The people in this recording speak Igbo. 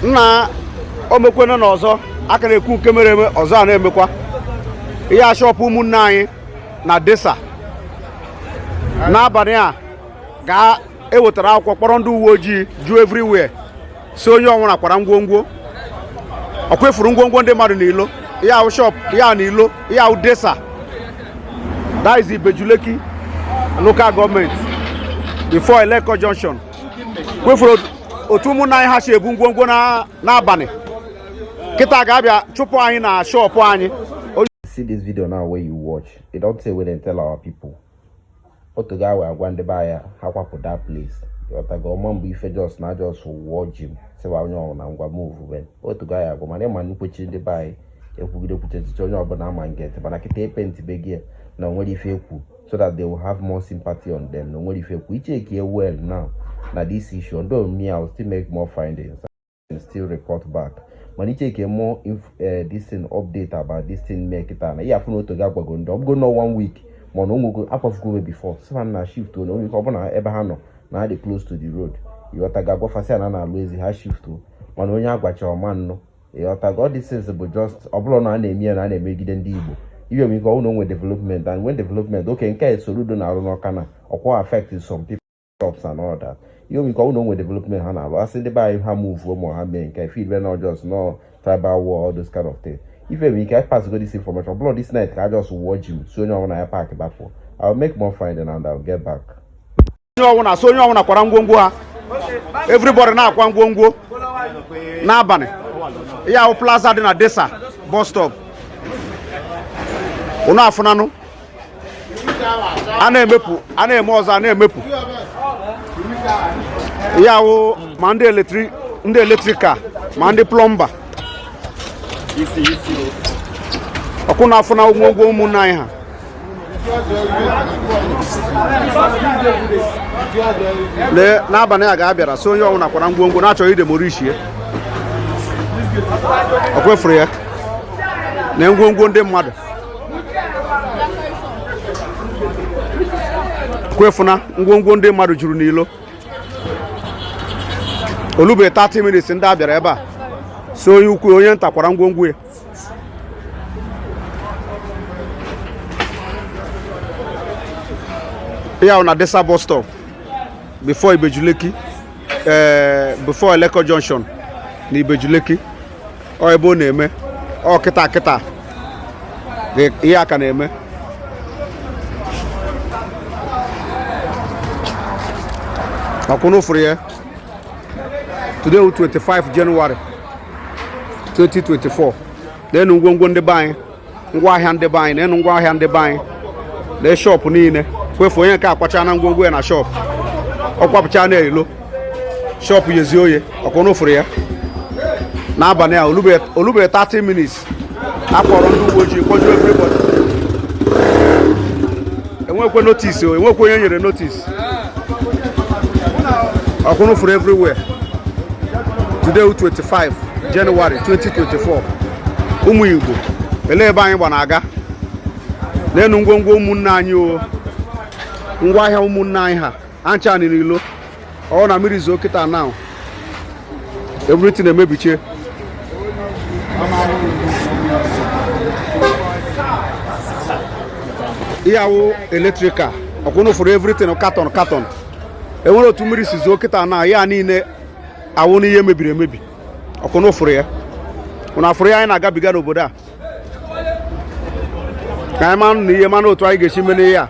nna o mekwena na ọzọ a ka na-ekwu nke mere eme ọzọ a na-emekwa ihe a shọpụ ụmụnne anyị na Desa n'abalị a ga e wetara akwụkwọ kpọrọ ndị uwe ojii ju everywhere sị onye ọwụna kwara ngwongwo ọkwa ị fụrụ ngwongwo ndị mmadụ n'ilo ihe a wụ shọp ihe ahụ n'ilo ihe a wụ Desa that is Ibeju Lekki local government before Eleko junction kwa ị fụrụ otu ụmụnna anyị ha si ebu ngwongwo n'abalị kịta ga a bịa chụpụ anyị na shọpụ anyị see this video now wey you watch e don tey wey they tell our people otu ga wee agwa ndị be anyị ha kwapụ that place ịghọtago ọma mgbe ife just na just wụchie sị wa onye ọbụna ngwa move ben otu ga ya agwa mana ị ma nkwechi ndị be anyị ekwugide kwuche echiche onye ọbụla ama nge ntị mana kịta epenti be gị na onwerọ ife ekwu so that they will have more sympathy on them na onwerọ ife ekwu ị checkie well now na this issue although me i will still make more findings and still report back mana ị checkie more inf eh, this thing update about this thing mee kịta na ihe afụ na otu gị agwago ndị ọbụrọ na one week mana onwego akwafugo me before a sị ha na shift na onye ọbụla ebe ha nọ na ha dị close to the road ịghọtago a gwa fa sị ya na a na-alụ ezi ha shift mana onye a gwacha ọ ma nnụ ịghọtago all these things bụ just ọbụrọ na a na-eme ya na a na-emegide ndị Igbo iwe nwere ike ọ wụ na onwe development and when development okay nke a Soludo na-arụ n'Ọka na ọkwa affect some people jobs and all that ihe o nwe ike ọ wụ na onwe development ha na-arụ a sị ndị be anyị ha move ma ha mee nke feel be na ọ just nọ tribal war all those kind of things ife nwere ike pass go this information ọbụrọ this night ka a just wụchie sị onye ọbụla ya pack bapụ I will make more finding and I will get back onye ọwụna so onye ọwụna kwara ngwongwo ha everybody na-akwa ngwongwo n'abalị ihe a wụ plaza dị na Desa bus stop unu afụnanụ a na-emepụ a na-eme ọzọ a na-emepụ ihe a wụ ma ndị electric ndị electrical ma ndị plumber ọkwa unu afụna ngwongwo ụmụnne anyị ha lee n'abalị a ga a bịara sị onye ọwụna kwara ngwongwo na a chọ idemolish ya ọkwa ị fụrụ ya na ngwongwo ndị mmadụ ọkwa ị fụna ngwongwo ndị mmadụ juru n'ilo o lube 30 minutes ndị a bịara ebe a sị onye ukwu onye nta kwara ngwongwo ya ya na desa bus stop before Ibeju-Lekki ee eh, before eleko junction na Ibeju-Lekki ọ ebe ọ na-eme ọ kịta kịta ihe a ka na-eme ọkwa ụnụ fụrụ ya today 25 January 2024 neenụ ngwongwo ndị be anyị ngwa ahịa ndị be anyị neenụ ngwa ahịa ndị be anyị na shop niile kwefu onye nke akwachana ngwongwo ya na shop ọ kwapụcha n'ilo shop ya ezi oye ọkwa ụnụ fụrụ ya n'abalị a o lubere 30 minutes a kpọrọ ndị uwe ojii kpọjuo everybody enwekwe notice o enwekwe onye nyere notice ọkwa ụnụ fụrụ everywhere today 25 January 2024 ụmụ Igbo elee ebe anyị gba na-aga neenụ ngwongwo ụmụnne anyị o ngwa ahịa ụmụnne anyị ha ncha n'ilo ọ wụ na mmiri zoo kịta now everything emebichie ihe a wụ electrical ọkwa ụnụ fụrụ everything carton carton e nwere otu mmiri si zoo kịta now ya niile awụna ihe mebiri emebi ọkwa ụnụ fụrụ ya ụnụ fụrụ ihe anyị na-agabiga n'obodo a ka anyị manụ na ihe manụ otu anyị ga-esi mee n'ihe a